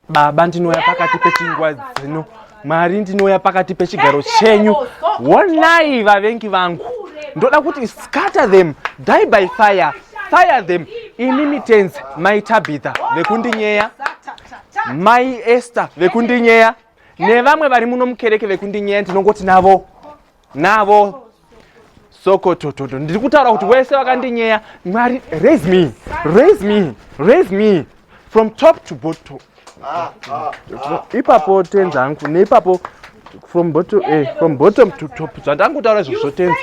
Baba ndinouya pakati pechingwa dzino Mwari ndinouya pakati pechigaro chenyu wonai vavengi vangu ndoda kuti scatter them die by fire fire them ini mitenzi mai tabhitha vekundinyeya mai ester vekundinyeya nevamwe vari muno mukereke vekundinyeya ndinongoti navo navo sokotototo ndiri kutaura kuti wese vakandinyeya mwari raise me raise me raise me from top to bottom ipapo tenzi hangu neipapo from bottom eh, from bottom to top zvandangutaura izvozvo tenzi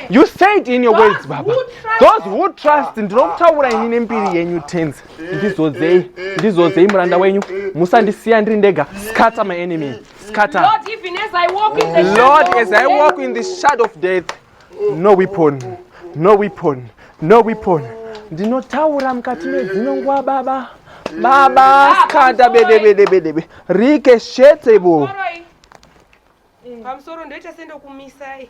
you say it in your words baba those who trust ndinokutaura ini nembiri yenyu tenzi ndizodzei ndizodzei muranda wenyu musandisiya ndiri ndega scatter my enemy Scatter. Lord, even as I walk in the Lord, shadow as I walk in the shadow of death, no weapon, no weapon, no weapon. Ndinotaura mukati medzino nguva baba. Baba, skanda bede bede bede bede. Rike shetebo. Pamusoro ndoita sendo kumisai.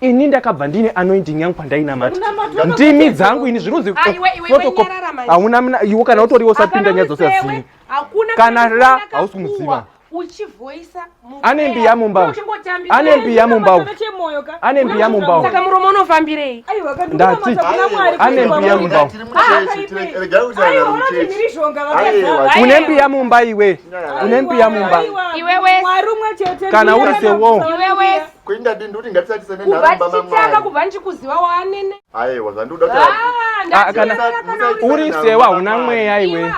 ini ndakabva ndine anointing yangu pandainamata ndimi dzangu ini zvinonzi hauna mna iwo kana utoriwo usapinda nyaya dzose hadzii kana ra hausi kumuziva ane mbiya mumba ane mbiya mumba ane mbiya mumba saka muromo unofambirei ndati ane mbiya mumba une mbiya mumba iwe une mbiya mumba kana uri sewo kuindadini ndikuti ngatisatise nenharombaamwari kubva ndichikuziva waanene aiwa zvandikuda uri sewa hauna mweya iwe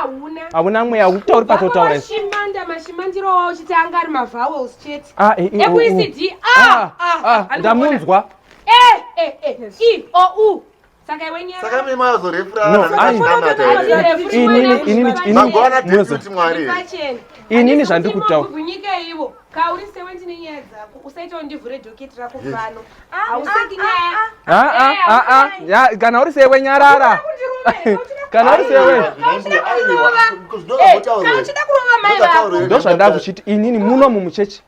hauna mweya ukutauri patotaura mashimanda mashimandiro wawo chiti anga ari mavowels chete ekuicd ndamunzwa e e e i o u saka imi mazorefuraaati mwari inini zvandikutaura kana uri sewe nyarara kana uri sewe ndozvandakuchiti inini muno mumuchechi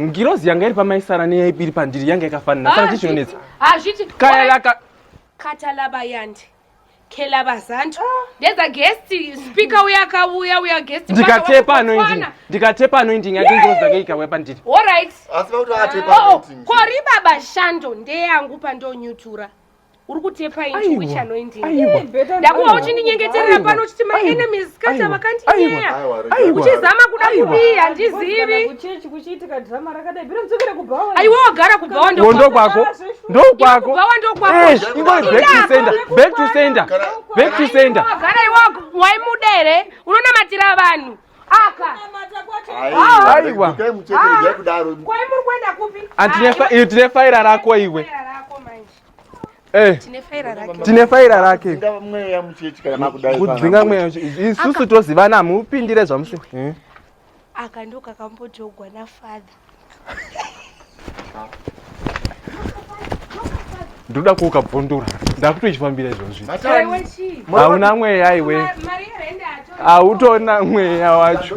ngirozi yanga iri pamaisara neyaipiri pandiri yanga yakafanira saka chichinonetsa katalabayandi kelabazantu ndedza guest speaker uya akauya uya guest ndikatepa anoindi ndikatepa anoindi nyati ngirozi dzake ikauya pandiri allright oh, oh, kori baba shando ndeyangu pandonyutura uri kutepa inchi which anointing ndakuva uchindinyengeterera pano uchiti my enemies kata vakandiyeya uchizama kuda kudii handizivi aiwa wagara kubhawa ndokwako ndokwako wagara iwa waimuda here unonamatira vanhu aiwa tine faira rako iwe eh. tine faira rake kudzinga mweya isusu tozivana mupindire zvamusi eh. aka ndokakambodyogwa nafather ndoda kuoka bvondora ndakutochifambira izvozvi hauna mweya aiwe hautoona mweya wacho